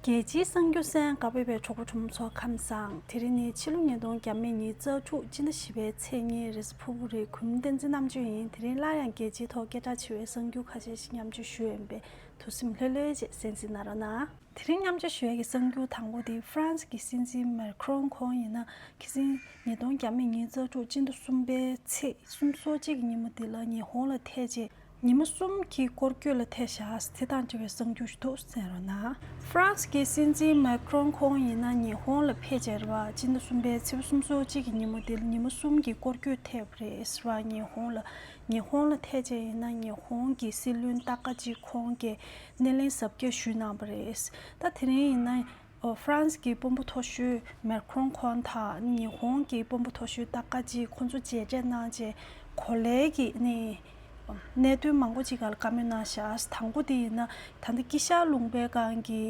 རྒྱལ་སྤྱིའི་གསང་རྒྱུ་སན་དགའ་བོད་པའི་གྲོགས་པོ་གྲོགས་མོ་ཚོ་ཁམས་བཟང་དེ་རིང་ནི་ཕྱི་ལོ་ཉིས་སྟོང་གྱ་མེད་ཉིན་གཙགས་དྲུག་སྤྱི་ཟླ་བཞི་པའི་ཚེས་གཉིས་རེས་ཕུར་བུ་རེ་གུམ་བསྟན་འཛིན་རྣམ་དཔྱོད་ཡིན་དེ་རིང་སླར་ཡང་རྒྱལ་སྤྱིའི་ཐོག་སྐད་གྲགས་ཆེ་བའི་གསང་རྒྱུ་ཁ་ཤས་ཤིག་མཉམ་སྤྱོད་ཞུ་འོས་པས་དུ་སེམས་ལྷོད་ལྷོད་བཅས་གསན་གཟིགས་གནང་རོགས་གནང། དེ་རིང་མཉམ་སྤྱོད་ཞུ་ཡས་ཀྱི་གསང་རྒྱུ་དང་པོ་དེ་ཧྥ་རན་སི་ཀྱི་སྲིད་འཛིན་མེར་ཁི་རོང་ཁོང་ཡིན་ན་ཁི་སིན་ཉིས་སྟོང་གྱ་མེད་ཉིན་གཙགས་དྲུག་སྤྱི་ཟླ་གསུམ་པའི་ཚེས་གསུམ་སོ་གཅིག་གི་ཉིན་མོ་དེ་ལ་ཉི་ཧོང་ལ་ཐེ་བྱེད་ཉི་མ་གསུམ་གྱི་སྐོར་སྐྱོད་ལ་ཐེ་ཞྭ་ཨཱས་ཚེ་ཐང་བྲི་བའི་གསང་རྒྱུ་ཞིག་ཏུ་གསན་རོགས་གནང། ཧྥ་རན་སི་ཀའི་སྲིད་འཛིན་མཱེ་ཀི་རོན་ཁོང་ཡིན་ན་ཉི་ཧོང་ལ་ཕེབས་རྗེས་རེད་བ། སྤྱི་ཟླ་གསུམ་པའི་ཚེས་གསུམ་སོ་གཅིག་གི་ཉིན་མོ་དེ་ཉི་མ་གསུམ་གྱི་སྐོར་སྐྱོད་ཐེབས་པ་རེད་བ། ཉི་ཧོང་ལ་ཉི་ཧོང་ལ་ཐེ་རྗེས་ཡིན་ན་ཉི་ཧོང་གི་སྲིད་བློན་ཏཱ་ཀ་ཇི་ཁོང་གིས་སྣེ་ལེན་གཟབ་རྒྱས་ཞུས་གནང་བ་རེད། ད་དེ་རིང་ཡིན་ན་ཧྥ་རན་སི་གི་དཔོན་པོ་མཐོ་ཤོས་མེར་ཁྲོན་ཁོང་དང་ཉི་ཧོང་གི་དཔོན་པོ་མཐོ་ཤོས་ཏཱ་ཀ་ཇི་ཁོང་ཚོ་མཇལ་འཕྲད་གནང་རྗེས་གོ་ལའི་གནད་དོན་མང་པོ་ཅིག་ག་ལ་བཀའ་མོལ་གནང་ཤག་དང་པོ་དེ་ཡིན་ན་ད་ལྟ་དཀྱིལ་ཤར་ལུང་པའི་སྒང་གི་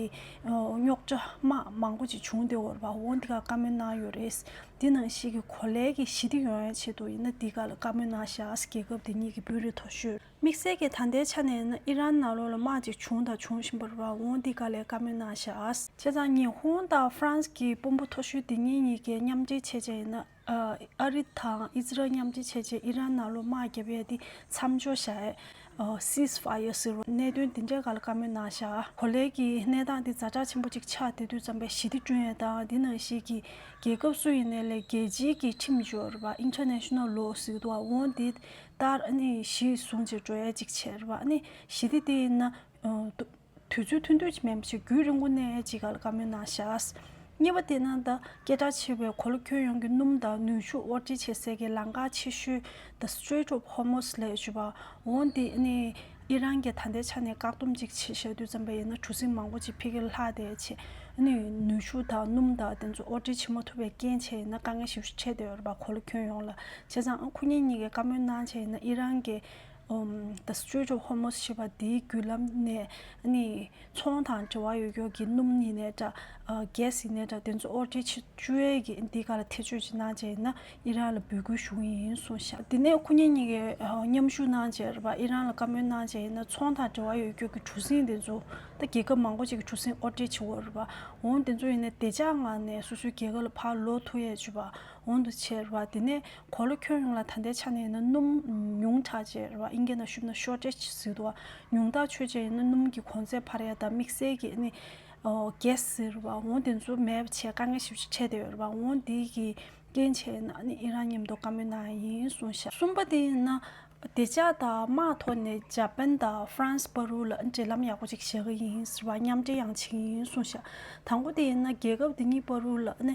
རྙོག་དྲ་དམག་མང་པོ་ཅིག་བྱུང་སྟེ་འོར་བ་འོང་འདི་ག་བཀའ་མོལ་གནང་ཡོད་རེད། དེ་ནང་ཞིག་གི་གོ་ལའི་གི་ཞི་བདེ་ཡོང་ཡང་ཆེད་དུ་ཡིན་ན་འདི་ག་ལ་བཀའ་མོལ་གནང་ཤག་རྒྱལ་ཁབ་དེ་གཉིས་ཀྱི་དཔོན་རིགས་མཐོ་ཤོས། དམིགས་བསལ་གྱི་ད་ལྟའི་ཆ་ནས་ནི་ཨི་རན་ནང་ལོགས་ལ་དམག་ཅིག་བྱུང་དང་འབྱུང་བཞིན་པ་རུ་རང་དབང་འདི་ག་ལས་དཀའ་མོད་སྣང་ཤག། བྱས་ཙང་ཉི་ཧོང་དང་ཧྥ་རན་སི་གི་དཔོན་པོ་མཐོ་ཤོས་འདི་གཉིས་གཉིས་ཀས་མཉམ་འབྲེལ་བྱས་རྗེས་ནི་ཨ་རི་དང་ཨིས་རལ་མཉམ་འབྲེལ་བྱས་རྗེས་ཨི་རན་ནང་ལོགས་དམག་བརྒྱབ་ཡས་འདི་མཚམས་འཇོག་བྱ་ཨེ། Ceasefire། ཟེར་བ་གནད་དོན་འདི་འདྲའི་ག་ལ་དཀའ་མོད་སྣང་ཤག་གོ་ལའི་གི་གནས་སྟངས་འདི་རྫ་དྲག་ཆེན་པོ་ཅིག་ཆགས་དེ་དུས་རྩམ་པའི་ཞི་བདེ་བསྐྲུན་ཡས་དང་འདི་ནང་བཞིན་གི་རྒྱལ་ཁབ་སུ་ཡིན་ནས་ལས་རྒྱལ་སྤྱིའི་གི་ཁྲིམས་སྦྱོར་བ International Law ཟིག་དུ་དབང་འདི་ལྟར་གཞི་བཟུང་བྱེད་འགྲོ་ཡ་ཅིག་ཆེར་བ་ནི་ཞི་བདེ་དེ་ཡིན་ན། དུས་ཚོད་ཐུང་དུས་ཀྱི་མེད་ཅིག་རྒྱུད་རིང་པོ་གནས་ཡ་ཅིག་ག་ལ་དཀའ་མོད་ན་བཞག། གཉིས་པ་དེ་ན་ད་སྐད་གྲགས་ཆེ་བའི་གོ་ལ་ཁྱོན་ཡོངས་ཀྱི་སྣུམ་དང་ནུས་ཕྱུགས་དབོར་འདྲེན་བྱེད་སའི་གི་ལང་ཀ་ཆེ་ཤོས The Strait of Hormuz ལས་བརྗོད་པ་འོང་དེ་ནི། ཨི་རན་གྱིས་ད་ལྟའི་ཆ་ནས་བཀག་སྡོམ་གཅིག་བྱེད་ཤེས་དུས་བཙན་པོ་ཡིན་ན་གྲུ་གཟིངས་མང་པོ་ཅིག་འཕེལ་གྱི་ལྷག་དེ་བྱས་ནས་ནུས་ཤུགས་དང་སྣུམ་དང་དེ་ཚོ་དབོར་འདྲེན་བྱེད་མ་ཐུབ་པའི་རྐྱེན་བྱས་ཡིན་ན་དཀའ་ངལ་ཞིབ་ཕྲ་འཕྲད་འདོད་པ་གོ་ལ་ཁྱོན་ཡོངས་ལ་བྱས་ཙང་ཨང་ཁུ་ཉིན་གཉིས་ཀའི་བཀའ་མོལ་གནང་བྱས་ཡིན་ན་ཨི་རན་གྱིས The Strait of Hormuz ཞེས་པ་དེའི་བརྒྱུད་ལམ་ནས་ཚོང་དང་འབྲེལ་བ་ཡོད་ཁྱོ་གི་སྣུམ་ཡིན་ནའི་འདྲ། Gas ཡིན་ནའི་འདྲ་དེ་ཚོ་ཨོར་ཏེ་ཆི་ཅུ་ཨེ་གི་འདི་ག་ལ་ཐེ་ཇུས་ཅིག་གནང་བྱས་ཡིན་ན་ཨི་རན་ལ་འབོད་སྐུལ་ཞུ་གི་ཡིན་གསུངས་ཤག་དེ་ནས་ཁོ་གཉིས་གཉིས་ཀས་མཉམ་ཞུགས་གནང་བྱས་ར་བ་ཨི་རན་ལ་བཀའ་མོལ་གནང་བྱས་ཡིན་ན་ཚོང་དང་འབྲེལ་བ་ཡོད་ཁྱོ་གི་གྲུ་གཟིངས་དེ་ཚོ་ད་རྒྱལ་ཁབ་མང་པོ་ཅིག་གི་གྲུ་གཟིངས་ཨོར་ཏེ་ཆི་འོ་ར་བ་འོང་དེ་ཚོ་ཡིན་ནའི་བདེ་འཇགས་ངང་ནས་སོ་སོའི་རྒྱལ་ཁབ་ལ་ཕར་ལོག་ཐུ་ཡས་ཆུ་བ་འོང་དུ་ཆས་ར་བ་དེ་ནས་གོ་ལོ་ཁྱོད་ཡོངས་ལ་ད་ལྟའི་ཆ་ནས་ཡིན་ན་སྣུམ། ཉུང་དྲགས་རྗེས་རེད་བ་ཨིན་སྐད་ནང་ཞུབ་ན Shortage ཟེར་འདུག་བ། ཉུང་དྲགས་ཆོད་རྗེས་ཡིན་ན་སྣུམ་གྱི་གོང་ཚད་འཕར་ཡ་དང་དམིགས་བསལ་གྱི་ནི། Gas ཟེར་འདུག་བ་ཨོང་དེ་ཚོ་མེད་པ་ཆེད་དཀའ་ངལ་ཞིབ་ཕྱིར་འཕྲད་བསྡད་ཡོད་རེད་བ་ཨོང་དེ་གི་རྐྱེན་ཆེད་ཡིན་ན་ནི་ཨི་རན་ཉམས་རྟོགས་དཀའ་མོད་ནའང་ཡིན་གསུངས་ཤག། གསུམ་པ་དེ་ཡིན་ན་བདེ་འཇགས་དང་དམག་ཐོག་ནས་ཇཱ་པན་དང་ཧྥ་རན་སི་པ་རུའུ་ལ་འབྲེལ་ལམ་ཡག་པོ་ཅིག་བྱེད་ཀྱི་ཡིན་ཟེར་བ་མཉམ་འབྲེལ་ཡང་བྱེད་ཀྱི་ཡིན་གསུངས་ཤག་དང་པོ་དེ་ཡིན་ན་རྒྱལ་ཁབ་དེ་གཉིས་པ་རུའུ་ལ་ནི་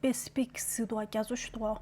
པེ་སི་ཕིག་སི་ཏུ་བ་རྒྱ་མཚོ་ཞི་ཏུ་བ་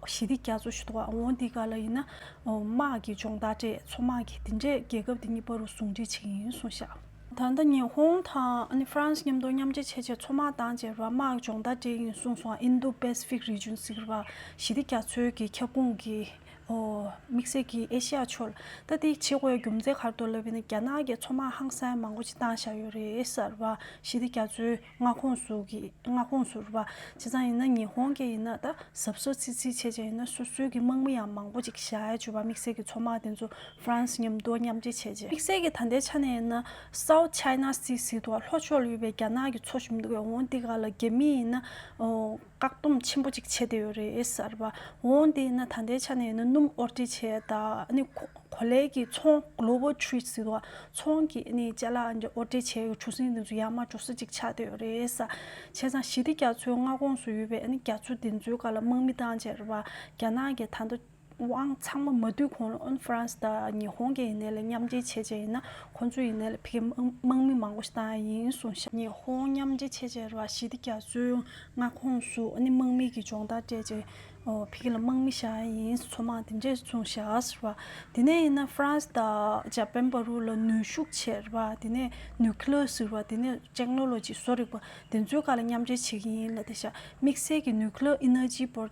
ཞི་ཏི་རྒྱ་མཚོ་ཞི་ཏུ་བ་ཨོ་ཏི་ཀ་ལ་ཡིན་ན་དམག་གི་སྦྱོང་བརྡར་སྤྲད་མཚོ་དམག་གིས་དེ་འདྲས་རྒྱལ་ཁབ་དེ་གཉིས་པ་རུ་ཟུང་འབྲེལ་བྱེད་ཀྱི་ཡིན་གསུངས་ཤག། ད་ལྟ་ཉི་ཧོང་དང་ཧྥ་རན་སི་མཉམ་དུ་མཉམ་འབྲེལ་བྱས་རྗེས་མཚོ་དམག་དང་བཅས་པ་དམག་གི་སྦྱོང་བརྡར་སྤྲད་ཀྱི་ཡིན་གསུངས་སོང་ཨིན་རྡུ་པེ་སི་ཕིག་རི་ཅུན་ཟེར་བ་ཞི་ཏི་རྒྱ་མཚོའི་གི་ཁྱབ་ཁོངས་ཀྱི་དམིགས་བསལ་གྱི་ཨེ་ཤེ་ཡ་ཕྱོགས་ལ་ལྟ་དེའི་བྱེད་སྒོའི་རྒྱུ་མཚན་གར་དོ་ལབ་པའི་ནི་རྒྱ་ནག་གི་མཚོ་དམག་ཧང་སང་མང་པོ་ཅིག་བཏང་བཞག་ཡོད་རེད་ཟེར་བ་ཞི་ཏི་རྒྱ་མཚོའི། མངའ་ཁོངས་སུ་གི་མངའ་ཁོངས་སུ་རུ་བ་བྱས་ཙང་ཡིན་ན་ཉི་ཧོང་གི་ཡིན་ན་ད་གཟབ་གཟོ་ཚིག་ཚིག་བྱས་ཅན་ཡིན་ན་སོ་སོའི་གི་དམག་མི་ཡང་མང་པོ་ཅིག་བཞའ་ཡ་བྱོས་པ་དམིགས་བསལ་གི་ཚོ་དམག་དེ་ཚོ France མཉམ་དུ་མཉམ་འབྲེལ་བྱས་ཅན། དམིགས་བསལ་གི་ད་ལྟའི་ཆ་ནས་ཡིན་ན South China Sea ཟིག་ཏུ་བ་ལྷོ་ཕྱོགས་ལ་ཡོད་པའི་རྒྱ་ནག་གི་ཚོ་ཞུམ་དུ་གི་འོང་འདི་ག་ལ་རྒྱ་མི་ཡིན་ན་འོང། བཀག་སྡོམ་ཆེན་པོ་ཅིག་བྱེད་དེ་ཡོད་རེད་གསར་པ་འོང་དེ་ན་ད་ལྟའི་ཆ་ནས་ཡིན་ན་སྣུམ་དབོར་འདྲེ་བྱས་ད་ནི་གོ་ལའི་གི་ཚོང Global Trade ཟེར་བ་ཚོང་གི་ནི་བཅའ་ལག་འདྲེ་དབོར་འདྲེ་བྱས་གྲུ་གཟིངས་དེ་ཚོ་ཡར་མར་འགྲོ་ས་ཅིག་ཆགས་དེ་ཡོད་རེད་བསམ། བྱས་ཙང་ཞི་བདེ་རྒྱ་མཚོའི་མངའ་ཁོངས་སུ་ཡོད་པའི་ནི་རྒྱ་མཚོ་དེ་ཚོའི་ག་ལ་དམག་མི་བཏང་བྱས་རེད་བ་རྒྱ་ནག་གི་ད་ལྟ་དབང་ཚང་མ་མ་བསྡུས་གོང་ལ་ཨོན་ཧྥ་རན་སི་དང་ཉི་ཧོང་གི་ཡིན་ནའི་ལ་མཉམ་འབྲེལ་བྱེད་ཅེས་ཡིན་ན་ཁོང་ཚོའི་ཡིན་ནའི་ལ་ཕི་ཁེ་དམག་མི་མང་པོ་ཞིག་བཏང་ཡ་ཡིན་གསུངས་ཤིང། ཉི་ཧོང་མཉམ་འབྲེལ་བྱེད་ཅེས་ར་ཤི་དི་རྒྱ་མཚོའི་མངའ་ཁོངས་སུ་ཨོ་ནི་དམག་མི་གི་སྦྱོང་བརྡར་སྤྲད་ཅེས་ཕི་ཁེ་ལ་དམག་མི་བཞག་ཡ་ཡིན་ཚོ་མང་དེ་འདྲས་གསུངས་ཤིང། དེ་ནས་ཡིན་ན་ཧྥ་རན་སི་དང་འཇའ་པན་བ་རུ་ལ་ནུས་ཤུགས་ཆེར་བ་དེ་ནས་ནུས་ཁི་ལོ་སིར་བ་དེ་ནས་ཅེག་ནོ་ལོ་ཇི་བཟོ་རིག་པ་དེ་ཚོའི་ཁ་ལ་མཉམ་འབྲེལ་བྱེད་ཀྱི་ཡིན་ལ་དེ་བཞག་དམིགས་བསལ་གྱི་ནུས་ཁི་ལོ་ཨི་ནོ་ཇི་པོར་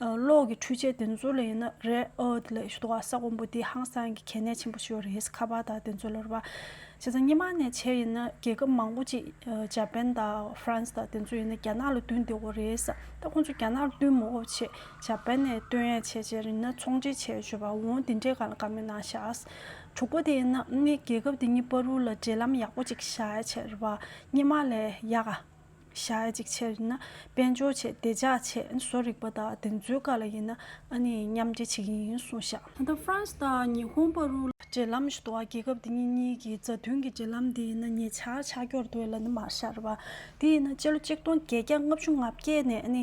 གློག་གི་འཕྲུལ་ཆས་དེ་ཚོ་ལ་ཡིན་ན་རེད་ཨོ་དེ་ལས་ཞུ་དོགས་ཨ་ས་དགོན་པོ་འདི་ཧང་སང་གི་གལ་གནད་ཆེན་པོ་ཞིག་ཡོད་རེད་ཁ་པར་དང་དེ་ཚོ་ལོར་བ་བྱས་ཙང་སྙེ་མ་ནས་བྱས་ཡིན་ན་རྒྱལ་ཁབ་མང་པོ་ཅིག་ཇཱ་པན་དང་ཧྥ་རན་སི་དང་དེ་ཚོ་ཡིན་ན་རྒྱ་ནག་ལ་བསྟུན་བདེ་བོ་རེད་ས་ད་ཁོང་ཚོ་རྒྱ་ནག་ལ་བསྟུན་མི་འོ་བྱས་ཇཱ་པན་ནས་བསྟུན་ཡས་བྱས་བྱས་རིན་ན་ཚོང་འབྲེལ་བྱས་བྱོས་པ་འོང་དེ་འདྲས་གང་ལ་གང་མི་གནང་ཤགས། དྲུག་པོ་དེ་ཡིན་ན་རྒྱལ་ཁབ་དེ་གཉིས་པ་རུ་ལ་འབྲེལ་ལམ་ཡག་པོ་ཅིག་བྱས་བྱས་རེད་བ་སྙེ་མ་ལས་ཡག་ཨ། ཞག་གཅིག་ཕྱིར་ཡིན་ན་དཔལ་འབྱོར་ཆེད་བདེ་འཇགས་ཆེད་བཟོ་རིག་པ་དང་དེ་ཚོའི་བཀའ་ལ་ཡིན་ན་ཨ་ནི་མཉམ་འབྲེལ་བྱེད་ཀྱི་ཡིན་གསུངས་ཤག། ད་ལྟ Frans དང་ཉི་ཧོང་པ་རུ། འབྲེལ་ལམ་ཞུ་དོགས་རྒྱལ་ཁབ་འདི་གཉིས་གཉིས་ཀྱི་མཛའ་མཐུན་གྱི་འབྲེལ་ལམ་འདི་ཡིན་ན་ཉེ་ཆར་ཆགས་འགྱུར་འདུག་ལ་ནི་མར་ཤར་བ། དེ་ཡིན་ན་སྤྱི་ལོ་གཅིག་སྟོང་བརྒྱད་བརྒྱ་ལྔ་བཅུ་ང་བརྒྱད་ནས་ཨ་ནི་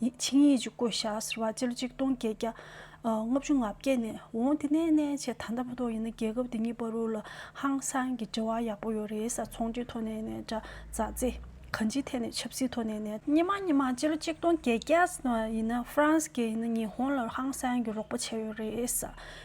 ཆིངས་ཡིག་ཅིག་བཀོད་བཞག་ཟེར་བ་སྤྱི་ལོ་ཆིག་སྟོང་བརྒྱད་བརྒྱ་ལྔ་བཅུ་ང་བརྒྱད་ནས་འོང་དེ་ནས་ནས་བྱས་ད་ལྟ་བ་ཐོག་ཡིན་ན་རྒྱལ་ཁབ་འདི་གཉིས་བར་རུ་ལ་ཧང་སང་གི་འབྲེལ་བ་ཡག་པོ་ཡོད་རེད་ས་ཚོང་འདུས་ཐོག་ནས་ནས་དྲ་ཛ་ཛི་གང་ཅིའི་ཐད་ནས་ཆབ་སྲིད་ཐོག་ནས་ནས། ཉི་མ་ཉི་མ་སྤྱི་ལོ་ཆིག་སྟོང་བརྒྱད་བརྒྱ་ཟེར་བ་ཡིན་ན་ཧྥ་རན་སི་གས་ཡིན་ན་ཉི་ཧོང་ལ་རུ་ཧང་སང་གི་རོགས་པ་བྱས་ཡོད་རེད་ས་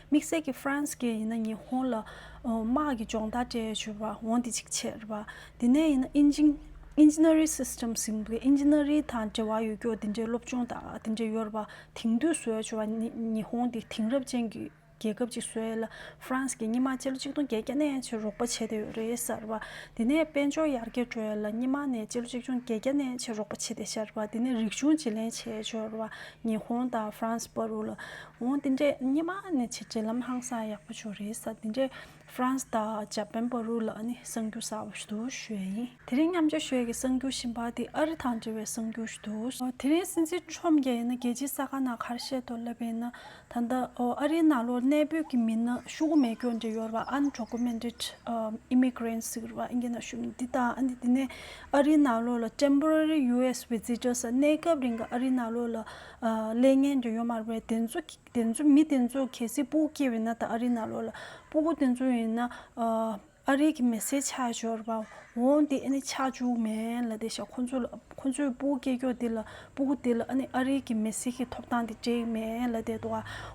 དམིགས་བསལ་གི་ཧྥ་རན་སི་གས་ཡིན་ན་ཉི་ཧོང་ལ་དམག་གི་སྦྱོང་བརྡར་སྤྲད་ཡོད་བྱུས་པ་འོང་དེ་ཅིག་བྱས་རེད་པ་དེ་ནས་ཡིན་ན Engineering Systems ཟིང་འབུད་ཨིན་ཇི་ནེ་རི་དང་འབྲེལ་བ་ཡོད་རྒྱུ་དེ་འདྲའི་སློབ་སྦྱོང་དང་དེ་འདྲའི་ཡོད་པ་དེང་དུས་བཟོས་བྱུང་བ་ནི་ཉི་ཧོང་དེ་དེང་རབས་ཅན་གྱི་རྒྱལ་ཁབ་ཅིག་བཟོས་ལ France གྱིས་སྙེ་མ་སྤྱི་ལོ་གཅིག་སྟོང་བརྒྱད་བརྒྱ་ནས་ཕྱིར་རོགས་པ་བྱས་ཏེ་ཡོད་རེད་ཟེར་བ་དེ་ནས་དཔལ་འབྱོར་ཡར་རྒྱས་འགྲོ་ཡོད་ལ་སྙེ་མ་ནས་སྤྱི་ལོ་གཅིག་སྟོང་བརྒྱད་བརྒྱ་ནས་ཕྱིར་རོགས་པ་བྱས་ཏེ་ཟེར་བ་དེ་ནས་རིག་གཞུང་བྱེད་ལེན་བྱས་འབྱོར་བ་ཉི་ཧོང་དང France པར་རུ་ལ་འོང་དེ་འདྲས་སྙེ་མ་ནས་ཕྱིར་འབྲེལ་ལམ་ཧང་སང་ཡག་པོ་བྱུང་རེད་ཟེར་དེ་འདྲས་ཧྥ་རན་སི་དང་འཇར་པན་པོ་རུ་ལ་ནི་གསང་རྒྱུག་གསར་བ་ཞུ་གཏུག་ཞོལ་ཡིན། དེ་རིང་མཉམ་སྤྱོད་ཞོལ་གྱི་གསང་རྒྱུག་བཞིན་པ་དེ་ཨ་རི་དང་འབྲེལ་བའི་གསང་རྒྱུག་ཞུ་གཏུག། དེ་རིང་སྲིད་འཛིན་ཁྲོམ་རྒྱལ་ཡིན་ན་རྒྱལ་སྤྱིའི་ས་ཁ་ན་གར་བཤད་དོ་ལབ་ཡིན་ན་ད་ལྟ་ཨ་རིའི་ནང་ལོར་གནས་སྤོས་ཀྱི་མི་སྣ་ཤུ་གུ་མེ་སྐྱོ་འདྲེ་ཡོར་བ་ཨན་གྲོ་ཀུ་མེན་རིད Immigrants ཟིག་རུ་བ་ཨིན་གྱི་ན་ཤུ་མི་འདི་དང་ཨ་འདི་དེ་ནས་ཨ་རིའི་ནང་ལོར་ལ Temporary US Visitors གནས་སྐབས་རིང་གི་ཨ་རིའི་ནང་ལོར་ལ་ལས་ངན་འདྲེ་ཡོར་མར་བའི་དེ་ཚོ་དེ་ཚོ་མི་དེ་ཚོ་གལ་སྲིད་སྤུ་གུ་སྐྱེས་བས་ན་ད་ཨ་རིའི་ནང་ལོག་ལ་སྤུ་གུ་དེ་ཚོ་ཡིན་ན་ཨ་རིའི་གི་མི་སེར་ཆགས་ཞོར་བ་འོང་དེ་ཨ་ནི་ཆགས་བཅུག་མེད་ལ་དེ་ཞག་ཁོ་ཚོ་ལ་ཁོ་ཚོས་སྤུ་གུ་སྐྱེས་སྐྱོ་དེ་ལ་སྤུ་གུ་དེ་ལ་ཨ་ནི་ཨ་རིའི་གི་མི་སེར་གི་ཐོབ་ཐང་དེ་བྲེག་མེད་ལ་དེ་ཏོ་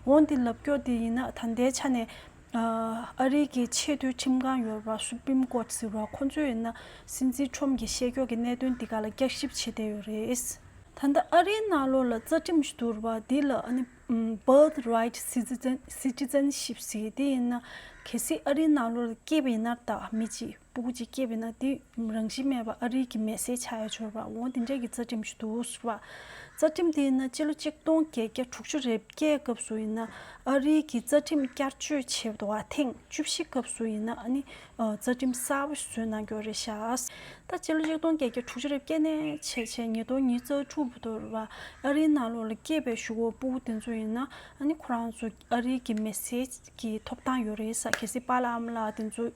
འོང་དེ་ལབ་སྐྱོ་དེ་ཡིན་ན་ད་ལྟའི་ཆ་ནས་ཨ་རིའི་གི་ཆེས་མཐོའི་ཁྲིམས་ཁང་ཡོད་པ Supreme Court ཟེར་བ་ཁོང་ཚོས་ཡིན་ན་སྲིད་འཛིན Trump གྱི་བཤད་ཁྱོག་གི་གནད་དོན་འདི་ག་ལ་བསྐྱར་ཞིབ་བྱེད་བསྡད་ཡོད་རེད། ད་ལྟ་ཨ་རིའི་གནའ་ལོ་ལ་རྩ་ཁྲིམས་བསྡུར་བ་འདི་ལ Birth Right Citizenship ཟེར་དེ་ཡིན་ན་གལ་སྲིད་ཨ་རིའི་གནའ་ལོ་ལ་སྐྱེས་པ་ཡིན་ནར་ད་མི་གཅིག་སྤུ་གུ་གཅིག་སྐྱེས་པས་ན་དེ་རང་བཞིན་མེད་པར་ཨ་རིག་གི་མེས་སྲེག་བྱ་ཡ་འཆོར་བ་འོང་དེ་འདྲས་ཀྱི་རྩ་ཁྲིམས་ཤིག་འདུག་ཟེར་བ། རྩ་ཁྲིམས་དེ་ཡིན་ན་སྤྱི་ལོ་གཅིག་སྟོང་བརྒྱད་བརྒྱ་དྲུག་ཅུ་རེ་བརྒྱད་སྐབས་སུ་ཡིན་ན་ཨ་རིག་གི་རྩ་ཁྲིམས་བསྐྱར་བཅོས་བྱེད་བ་ཐེངས་བཅུ་བཞི་སྐབས་སུ་ཡིན་ན་ནི་རྩ་ཁྲིམས་གསར་བ་ཞིག་བཟོས་གནང་རྒྱུ་རེད་ཤག། ད་སྤྱི་ལོ་གཅིག་སྟོང་བརྒྱད་བརྒྱ་དྲུག་ཅུ་རེ་བརྒྱད་ནས་ཕྱེད་ཕྱེད་ཉིས་སྟོང་ཉིས་བརྩ་དྲུག་བར་ཨ་རིའི་ནང་ལོགས་ལ་སྐྱེས་པའི་ཞུ་བོ་སྤུ་གུ་དེ་ཚོ་ཡིན་ན་ནི་ཁོ་རང་ཚོ་ཨ་རིའི་གི་མེ་སི་གི་ཐོབ་ཐང་ཡོད་རེད་ས་གལ་སྲིད་པ་ལམ་ལ་དེ་ཚོ་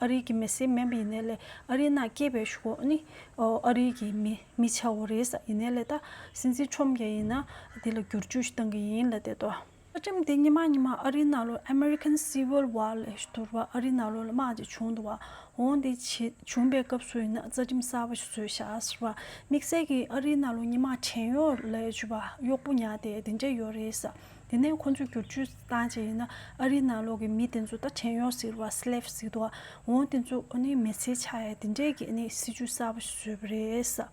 ཨ་རིའི་གི་མེ་སི་མེན་པ་ཡིན་ནའི་ལེ་ཨ་རིའི་ནང་སྐྱེས་པའི་ཞུ་གོ་ནི་ཨ་རིའི་གི་མི་མི་ཆ་བོ་རེད་ས་ཡིན་ནའི་ལེ་ད་སྲིད་འཛིན་ཁྲོམ་རྒྱ་ཡིན་ན་དེ་ལ་བསྒྱུར་བཅོས་ཞིག་གཏང་གི་ཡིན་ལ་དེ་དོ། བཀའ་ཁྲིམས་དེ་ཉི་མ་ཉི་མ་ཨ་རིའི་ནང་ལོ American Civil War ལས་བསྡུར་བ་ཨ་རིའི་ནང་ལོ་ལ་དམག་ཅིག་བྱུང་འདུག་བ་འོང་དེ་བྱེད་བྱུང་པའི་སྐབས་སུ་ཡིན་ན་རྩ་ཁྲིམས་གསར་བ་ཞིག་བཟོས་ཤག་ཟེར་བ་དམིགས་བསལ་གི་ཨ་རིའི་ནང་ལོ་ཉི་མ་བྲན་གཡོག་ལས་བྱུས་པ་གཡོག་པོ་ཉག་དེ་དེ་འདྲས་ཡོད་རེད་ས་དེ་ནས་ཁོ་ཚོས་བསྒྱུར་བཅོས་བཏང་རྗེས་ཡིན་ན་ཨ་རིའི་ནང་ལོག་གི་མི་དེ་ཚོ་ད་བྲན་གཡོག་ཟེར་བ Slave ཟེར་དུ་འོང་དེ་ཚོ་མི་ཚེའི་ཆ་ཡ་དེ་འདྲས་ཀྱི་སྲིད་ཇུས་གསར་པ་ཞིག་བཟོས་པ་རེད།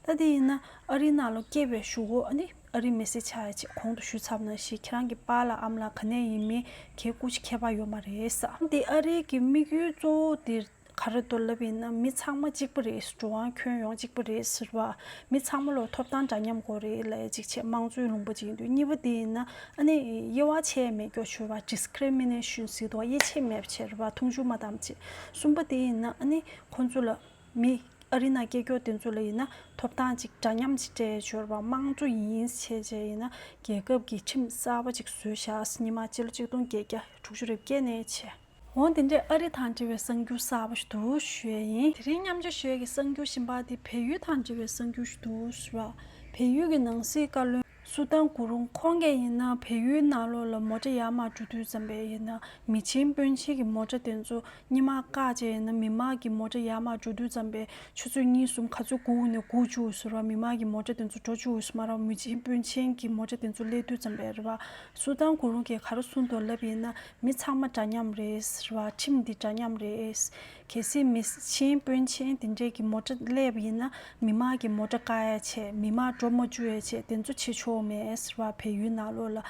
ད་དེ་ཡིན་ན་ཨ་རིའི་ནང་ལོག་སྐྱེས་པའི་ཞུ་སྒོ་ཨ་རིའི་མི་ཚེའི་ཆ་ཡ་ཅིག་གོང་དུ་ཞུས་ཚར་བ་ན་ཞིག་ཁྱེད་རང་གི་དཔའ་ལ་ཨམ་ལ་ག་ནས་ཡིན་མིན་གྱི་སྐུ་ཅི་ཁྱད་པར་ཡོད་མ་རེད། འདི་ཨ་རིའི་གི་དམིགས་ཡུལ་གཙོ་བོ་དེ་རེད། ག་རེ་མདོ་ལབ་ཡིན་ན་མི་ཚང་མ་གཅིག་པ་རེད་འགྲོ་བའང་ཁྱོན་ཡོངས་གཅིག་པ་རེད་ཟེར་བ། མི་ཚང་མ་ལོ་ཐོབ་ཐང་འདྲ་མཉམ་དགོས་རེད་ལ་གཅིག་བྱས་དམངས་གཙོའི་ལུང་པ་གཅིག་ཡིན་དུས་གཉིས་པ་དེ་ཡིན་ན་ཨ་ནི་དབྱེ་བ་ཆད་མེད་སྐྱོ་ཆོས་པ Discrimination གཟིགས་དོགས་དབྱེ་ཆད་མེད་བྱས་རེད་བ་མཐོང་ཆུང་མ་དམ་བཅས་གསུམ་པ་དེ་ཡིན་ན་ཨ་ནི་ཁོང་ཚོ་ལ་མི་ཨ་རི་ན་སྐྱེས་སྐྱོ་དེ་ཚོ་ལ་ཡིན་ན་ཐོབ་ཐང་གཅིག་འདྲ་མཉམ་གཅིག་སྤྲད་ཆོས་པ་དམངས་གཙོ་ཡིན་བྱས་བྱས་ཡིན་ན་རྒྱལ་ཁབ་ཀྱི་ཁྲིམས་གསར་པ་གཅིག་བཟོས་བྱས་ཉི་མ་སྤྱི་ལོ་གཅིག་སྟོང་བརྒྱད་བརྒྱ་དྲུག་ཅུ་རེ་བརྒྱད་ནས་བྱས། འོ་འདི་འདྲའི་ཨ་རི་དང་འབྲེལ་བའི་གསར་འགྱུར་གསར་པ་ཞུ་ཞོད་ཡིན། དེ་རིང་མཉམ་ཆ་ཞོད་ཀྱི་གསར་འགྱུར་ཞིམ་པ་འདི་བལ་ཡུལ་དང་འབྲེལ་བའི་གསར་འགྱུར་ཞུ་ཞོད་ར། བལ་ཡུལ་གྱི་ནང་སྲིད་བཀའ་བློན་སུ་ཏན་སྐུ་རུང་ཁོང་གས་ཡིན་ན་བལ་ཡུལ་ནང་ལོག་ལ་མོ་ཏྲ་ཡར་མར་འགྲོ་དུས་ཙམ་པས་ཡིན་ན་མི་ཆེན་དཔོན་ཆེན་གྱི་མོ་ཏྲ་དེ་ཚོ་སྙི་མ་བཀག་བཅས་ཡིན་ན་མི་མང་གྱི་མོ་ཏྲ་ཡར་མར་འགྲོ་དུས་ཙམ་པས་ཆུ་ཚོད་གཉིས་གསུམ་ག་ཚོད་སྒུག་ནས་སྒུག་བཅུག་འོས་ཟེར་བ་མི་མང་གྱི་མོ་ཏྲ་དེ་ཚོ་འགྲོ་བཅུག་འོས་མ་རང་མི་ཆེན་དཔོན་ཆེན་གྱི་མོ་ཏྲ་དེ་ཚོ་སླེབས་དུས་ཙམ་པས་རེད་བ། སུ་ཏན་སྐུ་རུང་གས་ག་རེ་གསུང་དོགས་ལབ་ཡིན་ན་མི་ཚང་མ་འདྲ་མཉམ་རེད། རེད་བ། ཁྲིམས་འདི་འདྲ་མཉམ་རེད། གལ་སྲིད་མི་ཆེན་དཔོན་ཆེན་དེ་འདྲས་ཀྱི་མོ་ཏྲ་གླས་པ་ཡིན་ན་མི་མང་གི་མོ་ཏྲ་ཀ་ཡ་ཆེ་མི་མང་གྲོ་མོ་ཅུ་ཡ་ཆེ་དེ་ཚོ་བྱེད་ཆོག་མེད་རེད་བ་བལ་ཡུལ་ནང་ལོགས་ལ།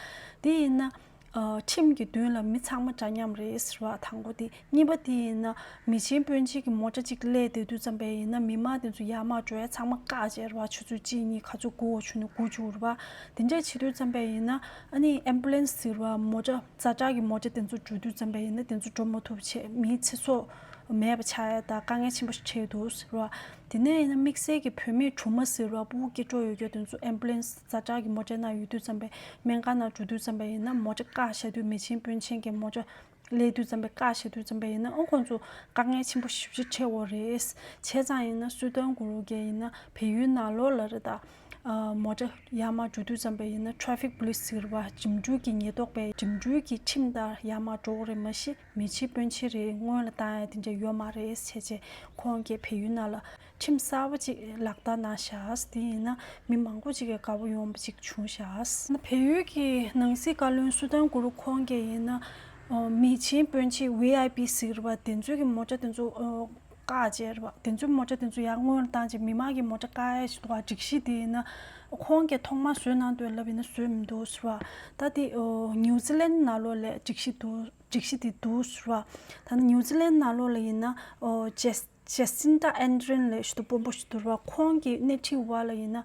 དེ་ཡིན་ན། ཁྲིམས་ཀྱི་མདུན་ལ་མི་ཚང་མ་འདྲ་མཉམ་རེད་རེད་བ་དང་པོ་དེ། གཉིས་པ་དེ་ཡིན་ན། མི་ཆེན་དཔོན་ཆེན་གྱི་མོ་ཏྲ་གཅིག་གླས་དེ་དུས་ཙམ་པས་ཡིན་ན་མི་མང་དེ་ཚོ་ཡར་མར་འགྲོ་ཡ་ཚང་མ་བཀག་བྱས་རེད་བ་ཆུ་ཚོད་གཅིག་གཉིས་ག་ཚོད་དགུ་བ་ཆུ་ནས་དགུ་བཅུག་རེད་བ་དེ་འདྲས་བྱེད་དུས་ཙམ་པས་ཡིན་ན། ཨ་ནི Ambulance ཟེར་བ་མོ་ཏྲ། རྩ་དྲག་གི་མོ་རྒྱ་དེ་ཚོ་འགྲོ་དུས་འཇམ་པ་ཡིན་ན་དེ་ཚོ་འགྲོ་མ་ཐུབ་ཆེད་མིའི་ཚེ་སྲོག་མེད་པ་ཆགས་ཡ་ད་དཀའ་ངལ་ཆེན་པོ་ཞིག་ཆེ་ཡོད་འདུག་ཟེར་བ། དེ་ནས་ཡིན་ན་དམིགས་བསལ་གྱི་བོད་མིས་གྲུ་མ་ཟེར་བ་པུའུ་སྐྱིད་སྤྲོ་ཡོད་སྐྱོ་དེ་ཚོ Ambulance རྩ་དྲག་གི་མོ་རྒྱ་ན་ཡོད་དུས་འཇམ་པའི་སྨན་སྒར་ན་འགྲོ་དུས་འཇམ་པ་ཡིན་ན་མོ་རྒྱ་བཀག་བཞག་དུས་མེ་ཆེན་དཔོན་ཆེན་གྱི་མོ་རྒྱ་ཀླད་དུས་འཇམ་པའི་བཀག་བཞག་དུས་འཇམ་པ་ཡིན་ན་ཨོ་ཁོང་ཚོ་དཀའ་ངལ་ཆེན་པོ་ཞིབ་ཆེ་ཆེ་བོ་རེད། བྱས་ཙང་ཡིན་ན་སུའི་དོན་གོ་རོ་རྒྱལ་ཡིན་ན་བལ་ཡུལ་ནང་ལོག་ལ་རེད་ད། མོ་ཏྲ་ཡ་མ་འགྲོ་དུས་ཙམ་པས་ཡིན་ན Traffic Police ཟེར་བ་འགྲིམ་འགྲུལ་གྱི་ཉེས་རྟོག་པས་འགྲིམ་འགྲུལ་གྱི་ཁྲིམས་ལྟར་ཡ་མ་འགྲོ་གི་རེད་མ་གཞི་མི་ཕྱི་དཔོན་ཕྱི་རེད་སྔོན་ལ་ཏང་ཡ་དེ་འདྲ་ཡོད་མ་རེད་བྱས་རྗེས་ཁོང་གིས་བལ་ཡུལ་ནང་ལ་ཁྲིམས་གསར་བ་ཅིག་ལག་བསྟར་གནང་ཤག་དེ་ཡིན་ན་མི་མང་པོ་ཅིག་གི་དགའ་བོ་ཡོང་བ་ཅིག་བྱུང་ཤག། བལ་ཡུལ་གྱི་ནང་སྲིད་བཀའ་བློན་སུ་ཏན་གུ་རུ་ཁོང་གིས་ཡིན་ན་མི་ཕྱི་དཔོན་ཕྱི VIP ཟེར་བ་དེ་ཚོའི་གི་མོ་ཏྲ་དེ་ཚོ་བཀའ་ཅེར་བ་དེ་ཚོའི་མོ་ཆ་དེ་ཚོ་ཡར་སྔོན་རུ་བཏང་ཅིག་མི་དམངས་ཀྱི་མོ་ཆ་བཀའ་ཡས་ཤིག་འདུག་བ་སྒྲིག་གཞི་དེ་ཡིན་ན། ཁོང་གིས་ཐོག་མར་བཟོས་གནང་འདོད་ལབ་ཡིན་ན་བཟོས་མི་འདུག་ཟེར་བ། ད་དེ་ནིའུ་ཛི་ལན་ནཱ་ལོ་ལས་སྒྲིག་གཞི་འདུག་སྒྲིག་གཞི་དེ་འདུག་ཟེར་བ། ད་ནི་ནིའུ་ཛི་ལན་ནཱ་ལོ་ལ་ཡིན་ན། ཇེ་ཇེ་སིན་ཏྲ་ཨན་རིན་ལས་ཞུ་དོ་སྤོ་འབོ་ཞུ་དོ་ཟེར་བ་ཁོང་གིས་སྣེ་ཁྲིད་བ་ལ་ཡིན་ན།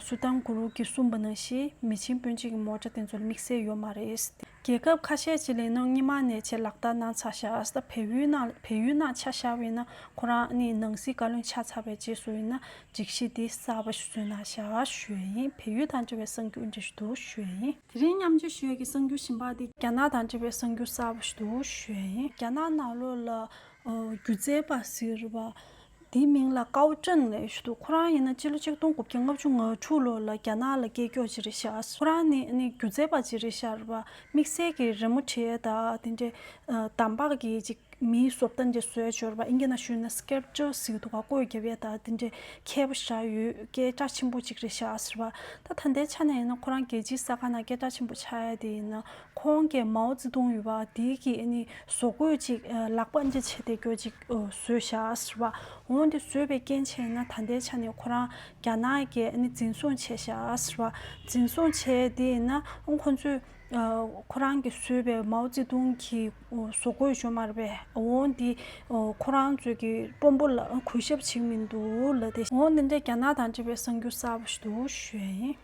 སུ་དང་གུ་རུ་གིས་གསུངས་པ་ནང་བཞིན་མི་ཆེན་དཔོན་ཆེན་གྱི་མོ་ཅག་དེ་ཚོ་ལ་དམིགས་བསལ་ཡོད་མ་རེད། རྒྱལ་ཁབ་ཁ་ཤས་ཀྱི་ལས་ནང་རྙིང་མ་ནས་ཆེད་ལག་བསྟར་གནང་ཚར་ཤག་བལ་ཡུལ་ནང་བལ་ཡུལ་ནང་ཆ་བཞག་པས་ན་ཁོ་རང་ནི་ནང་སྲིད་བཀའ་བློན་ཆགས་ཚར་བའི་རྗེས་སུ་ཡིན་ན་སྒྲིག་གཞི་འདི་གསར་པ་ཞིག་བཟོས་གནང་ཤག་ཞུས་ཡ་ཡིན་བལ་ཡུལ་དང་འབྲེལ་བའི་གསང་རྒྱུ་འབྲི་བཞིན་འདུག་ཞུས་ཡ་ཡིན། དེ་རིང་མཉམ་འབྱོར་ཞུས་ཡ་གི་གསང་རྒྱུ་ཞིམ་པ་འདི། རྒྱ་ནག་དང་འབྲེལ་བའི་གསང་རྒྱུ་གསར་པ་ཞིག་འདུག་ཞུས་ཡ་ཡིན། རྒྱ་ནག་ནང་ལོགས་ལ་སྒྱུ་རྩལ་པ་ཟེར་བ་དེའི་མིང་ལ་ཀའོ་ཀྲེང་ལེ་ཞུ་འདུག་ཁོ་རང་ཡིན་ན་སྤྱི་ལོ་ཆིག་སྟོང་དགུ་བརྒྱ་ལྔ་བཅུ་ང་དྲུག་ལོ་ལ་རྒྱ་ནག་ལ་སྐད་སྐྱོགས་ཅི་རེ་ཤར་ཁོ་རང་ནི་ནི་སྒྱུ་རྩལ་པ་ཅི་རེ་ཤར་བ་དམིགས་བསལ་གྱི་རི་མོ་བྲིས་ད་དེ་འདྲའི་དམ་བག་གི་ཅིག་མིའི་བཟོ་ལྟ་འདྲའི་བཟོས་སྦྱོར་བ་ཨིན་སྐད་ན་ཞུས་ན Sculpture ཟེར་གི་འདུག་ག་ཀོས་རྒྱབ་ཡས་ད་དེ་འདྲའི་མཁས་པོ་ཤར་ཡོད་སྐད་གྲགས་ཆེན་པོ་ཅིག་རེ་ཤར་བ་ད་ད་ལྟའི་ཆ་ནས་ཡིན་ན་ཁོ་རང་རྒྱལ་སྤྱིའི་ས་ཁང་ན་སྐད་གྲགས་ཆེན་པོ་ཆགས་ཡས་དེ་ཡིན་ན་ཁོང་གིས་མའོ་ཙེ་ཏུང་ཡུལ་བ་དེ་གིས་ནི་བཟོ་བཀོད་ཅིག་ལག་པ་འདྲི་བྱེད་དེ་གྱོད་ཅིག་བཟོས་ཤག་ཟེར་བ། འོན་ཏེ་བཟོས་པའི་རྐྱེན་བྱས་ན་ད་ལྟའི་ཆ་ནས་ཁོ་རང་རྒྱ་ནག་གིས་ནི་འཛིན་བཟུང་བྱས་ཤག་ཟེར་བ། འཛིན་བཟུང་བྱས་དེ་ན་ཁོ་ཚོས་ཁོ་རང་གིས་བཟོས་པའི་མའོ་ཙེ་ཏུང་གི་བཟོ་བཀོད་བྱུང་མ་རེད་པས་འོན་ཏེ་ཁོ་རང་ཚོས་ཀྱི་དཔོན་པོ་ལ་གུས་ཞབས་བྱེད་མི་འདུག་ལ་དེ། འོན་ཏེ་རྒྱ་ནག་དང་འབྲེལ་བའི་གསར་འགྱུར་གསར་བ་ཞིག་ཏུ་བཞོན།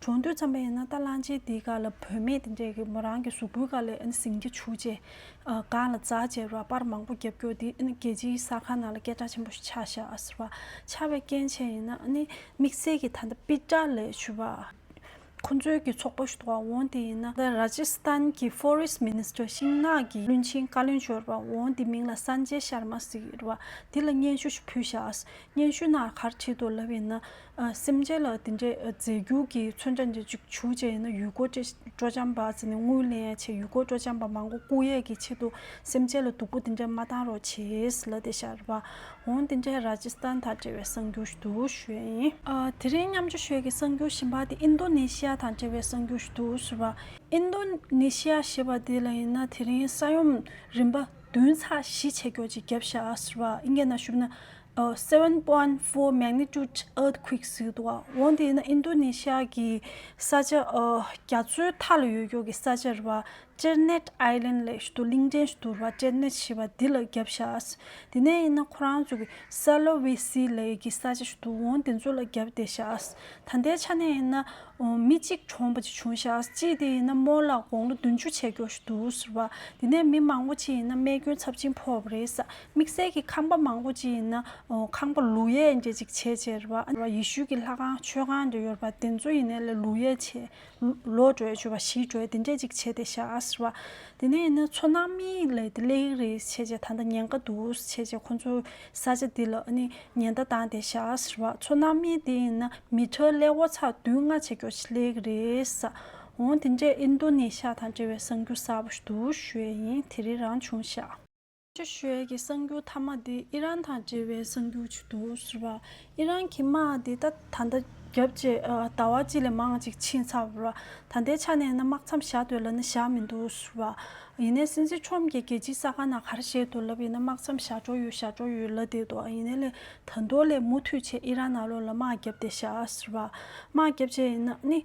གྲོང་སྡོད་ཙམ་པ་ཡིན་ན་ད་གླང་ཆེན་དེའི་ག་ལ་བུད་མེད་དེ་འདྲས་ཀྱི་མོ་རང་གི་གཟུགས་པོའི་ག་ལས་ཟིང་ཆ་ཆུ་ཆེ། གངས་ལ་རྫ་ཆེ་ར་སྤར་མང་པོ་རྒྱབ་སྐྱོར་དེ་རྒྱལ་སྤྱིའི་ས་ཁང་ནང་ལ་སྐད་གྲགས་ཆེན་པོ་ཞིག་ཆགས་བཞག་བ་ཆགས་པའི་རྐྱེན་ཆེན་ཡིན་ན་ནི་དམིགས་བསལ་གྱི་ད་ལྟ་པི་ཏྲ་ལས་ཆུ་བ་ཁོ་ཚོའི་གྱི་ཚོགས་པ་ཞིག་འདུག་བ་འོང་དེ་ཡིན་ན། Rajasthan གྱི Forest Minister ཤིང་ནགས་ཀྱི་བློན་ཆེན་བཀའ་བློན་འབྱོར་བ་འོང་དེ་མིང་ལ Sanjay Sharma ཟེར་བ་དེ་ལ་སྙན་ཞུ་ཞིག་ཕུལ་བཞག་སྙན་ཞུ་ནག་གར་བྲིས་འདུག་ལབ་ཡིན་ན། སེམས་ཅན་ལ་དེ་འདྲའི་རྫས་རྒྱུག་གི་མཚོན་ཆ་འདི་བཅུག་ཆུ་བཅད་ཡིན་ན་ཡུལ་སྐོར་བཅས་སྤྲོ་འཆམ་པ་ཟེར་ནས་དངུལ་ལེན་ཡང་བྱེད་ཡུལ་སྐོར་སྤྲོ་འཆམ་པ་མང་པོ་སྐུ་ཡས་ཀྱི་ཆེད་དུ་སེམས་ཅན་ལ་སྡུག་པོ་དེ་འདྲ་མ་བཏང་རོགས་བྱས་ལ་དེ་ཤར་བ་འོང་དེ་འདྲའི་ར་ཇི་སི་ཐན་དང་འབྲེལ་བའི་གསང་རྒྱུ་ཞུ་དུག་ཞོད་ཡིན། དེ་རིང་མཉམ་ཆུ་ཞོད་ཀྱི་གསང་རྒྱུ་བཞིན་པ་དེ་ཨིན་རྡོ་ནེ་ཤི་ཡ་དང་འབྲེལ་བའི་གསང་རྒྱུ་ཞུ་དུག་ཟེར་བ། ཨིན་རྡོ་ནེ་ཤི་ཡ་ཞེས་པ་དེ་ལ་ཡིན་ན་དེ་རིང་ས་ཡོམ་རིམ་པ་བདུན་ཚགས་བཞི་ཆད་འགྱོག་ཅིག་བརྒྱབ་བཞག་ཟེར་བ་ཨིན་སྐད་ན་ཞུབ་ན Seven Point Four Magnitude Earthquake ཟེར་འདུག་འོན་ཏེ་ཨིན་རྡུ་ནེ་ཤ་ཡའི་ས་ཆ་རྒྱ་མཚོའི་མཐའ་ལ་ཡོད་སྐྱོར་གྱི་ས་ཆར་བ་ཅེར་ནེད Island ལས་ཞུ་དུ་གླིང་ཕྲན་ཞུ་དུར་བ་ཅེར་ནེད་ཞེས་པ་འདི་ལ་རྒྱབ་བཞག་དེ་ནས་ཡིན་ན་ཁོ་རང་ཚོ་གི་སཱ་ལོ་ཝེ་སི་ལའི་གི་ས་ཆ་ཞུ་དུ་འོང་དེ་ཚོ་ལ་རྒྱབ་བདེ་བཞག་ད་ལྟའི་ཆ་ནས་ཡིན་ན་མི་གཅིག་གྲོངས་པ་ཅིག་བྱུང་བཞག་ཅིས་དེ་ཡིན་ན་མོ་ལགས་དགོང་ལོ་བདུན་ཅུ་ཆད་འགྱོགས་ཞུ་དུ་ཟེར་བ་དེ་ནས་མི་མང་པོ་ཅིག་ཡིན་ན་རྨས་སྐྱོན་ཚབས་ཆེན་ཕོག་པ་རེད་ས་དམིགས་བསལ་གྱི་ཁང་པ་མང་པོ་ཅི་ཡིན་ན་ཁང་པ་ལུས་ཡས་འགྱེད་ཅིག་བྱེད་ཅེས་པ་ཨ་ཡེ་ཤུའི་གྱི་ལྷ་ཁང་མཆོད་ཁང་དུ་ཡོད་པ་དེ་ཚོ་ཡིན་ནས་ལས་ལུས་ཡས་བྱེད་ལོ་བགྲོད་བཅུ་བ་བཞི་བགྲོད་དེ་འདྲས་ཅིག་བྱེད་དེ་ཤ་ཟེར་བ་དེ་ནས་ཡིན་ན་ཚོ་ནང་མིའི་ལས་དེ་ལས་ཡིག་རེད་བྱེད་ཅེས་ད་ལྟ་ཉེན་ཁ་འདུག་བྱེད་ཅེས་ཁོ་ཚོ་ས་ཆ་འདི་ལ་ནི་ཉེན་བརྡ་བཏང་དེ་ཤ་ཟེར་བ་ཚོ་ནང་མིའི་དེ་ཡིན་ན་མི་ཁྲ་ཀླད་ཀོར་ཚགས་བདུན་ལྔ་བྱེད་རྒྱོ་བྱེད་ལས་ཡིག་རེད་ཟ་འོང་དེ་འདྲས་ཨིན་རྡོ་ནེ་ཤ་དང་འབྲེལ་བའི་གསང་རྒྱུ་གསར་པ་ཞུ་དུ་ཞུ་ཡས་ཡིན་དེ་རིགས་རང་བྱུང་ཤ། ཆེ་ཤོས་ཀྱི་གསར་འགྱུར་མཐའ་མ་དེ་ཨི་རན་དང་འབྲེལ་བའི་གསར་འགྱུར་ཅིག་འདུག་ཟེར་བ། ཨི་རན་གྱི་དམག་དེ་ད་ད་ལྟ་རྒྱབ་རྗེས་ཟླ་བ་གཅིག་ལས་མང་ཅིག་ཕྱིན་ཚར་བ། ད་ལྟའི་ཆ་ནས་ན་དམག་མཚམས་བཞག་འདོད་ལ་ནི་བཞག་མི་འདུག་ཟེར་བ། ཡིན་ནའི་སྲིད་འཛིན་ཁྲོམ་གྱིས་རྒྱལ་སྤྱིའི་ས་ཁང་ན་ག་རེ་བཤད་འདུག་ལབ་ཡིན་ན་དམག་མཚམས་བཞག་འགྲོ་ཡོད་བཞག་འགྲོ་ཡོད་ལབ་བསྡད་འདུག་ཡིན་ནའི་ལས་ད་དུང་ལས་མུ་མཐུད་བྱས་ཨི་རན་ནང་ལོགས་ལ་དམག་བརྒྱབ་སྟེ་བཞག་ཟེར་བ། དམག་བརྒྱབ་བྱས་ཡིན་ན་ནི།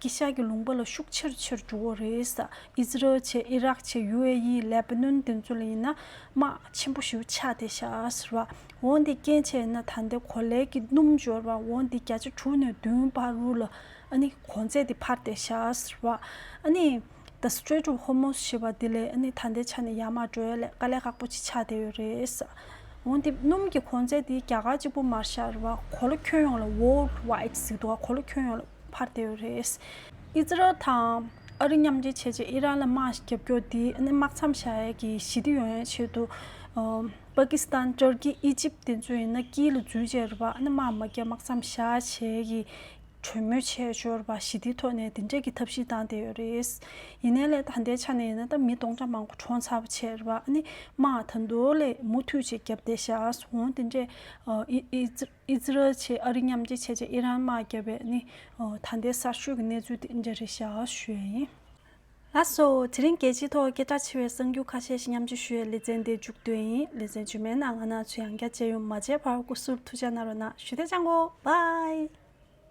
ཀི་ཤ་གི་ལུང་པ་ལ་ཤུགས་ཆེར་ཆེར་འཇུག་འོ་རེད། ཨིས་རལ་ཆེ་ཨི་རག་ཆེ་ཡུ་ཨེ་ཡི་ལེ་པི་ནོན་དེ་ཚོ་ལ་ཡིན་ན་དམག་ཆེན་པོ་ཞིག་ཆགས་ཏེ་ཤགས་ར་འོ་འདི་སྐྱེན་ཆེ་ཨེ་ན་ད་འདི་གོ་ལའི་གི་སྣུམ་འབྱོར་བ་འོ་འདི་བརྒྱ་ཆ་དྲུག་ནས་བདུན་བར་རུ་ལ་ཨ་ནི་གོ་འཛད་དེ་འཕར་ཏེ་ཤགས་ར་ཨ་ནི། The Strait of Hormuz ཞེས་པ་འདི་ལས་ནི་ད་ལྟའི་ཆ་ནས་ཡར་མར་བགྲོད་ལས་དཀའ་ལས་ཁག་པོ་ཅིག་ཆགས་བསྡད་ཡོད་རེད། འོན་ཏེ་སྣུམ་གྱི་གོང་ཚད་དེ་རྒྱ་གར་གཅིག་པུ་མར་ཤར་བ་གོ་ལ་ཁྱོན་ཡོངས་ལ World Wide ཟེར་འདུག་གོ་ལ་ཁྱོན་ཡོངས་ལ་འཕར་བསྡད་ཡོད་རེད། ཨི་ཛི་རལ་དང་ཨ་རི་མཉམ་འབྲེལ་བྱས་རྗེས་ཨི་རན་ལ་དམག་རྒྱབ་སྐྱོར་དེ་ནི་དམག་མཚམས་བཞག་ཡས་ཀྱི་ཞི་བདེ་ཡོང་ཡའི་ཆེད་དུ་པ་ཀི་སི་ཐན་ཏུར་ཀི་ཨི་ཇིབ་དེ་ཚོས་ཡིན་ན་དཀྱིལ་ལ་འཛུལ་བྱས་རེད་པ་ནི་དམག་མ་རྒྱབ་དམག་མཚམས་བཞག་བྱས་ཀྱི་གྲོས་མོལ་བྱས་འབྱོར་པ་ཞི་བདེའི་ཐོག་ནས་འདི་འདྲས་ཀྱི་ཐབས་ཤེས་བཏང་བསྡད་ཡོད་རེད། ཡིན་ནའི་ལས་ད་ལྟའི་ཆ་ནས་ཡིན་ན་ད་མི་སྟོང་ཕྲག་མང་པོ་གྲོངས་ཚར་བ་ཆེ་རེད་བ་ཨ་ནི་མ་ད་མདོ་ལས་མུ་མཐུད་ཅིག་བརྒྱབ་བསྡད་ཤག་འོང་དེ་འདྲས་ཨི་ཛི་རལ་ཆེ་ཨ་རི་མཉམ་རྒྱལ་ཆེ་ཆེ་ཨི་རན་དམག་བརྒྱབ་པའི་ཨ་ནི་ད་ལྟའི་གསར་ཤོས་ཀྱི་གནས་ཚུལ་དེ་འདྲས་རེད་ཤག་ཞུས་ཡ་ཡིན། ལགས་སོ། དེ་རིང་རྒྱལ་སྤྱིའི་ཐོག་སྐད་གྲགས་ཆེ་བའི་གསར་འགྱུར་ཁ་ཤས་ཤིག་མཉམ་སྤྱོད་ཞུ་ཡའི་ལེ་ཚན་འདི་མཇུག་བསྡུ་ཡིན་ལེ་ཚན་རྗེས་མའི་ནང་ང་ནག་ཚོས་ཡང་བསྐྱར་མཇལ་ཡོང་མ་མཇལ་བར་སྐུ་གཟུགས་ཐུགས་འཇགས་གནང་རོགས་གནང་ཞུ་དེ་ཅང་གོ་བའི།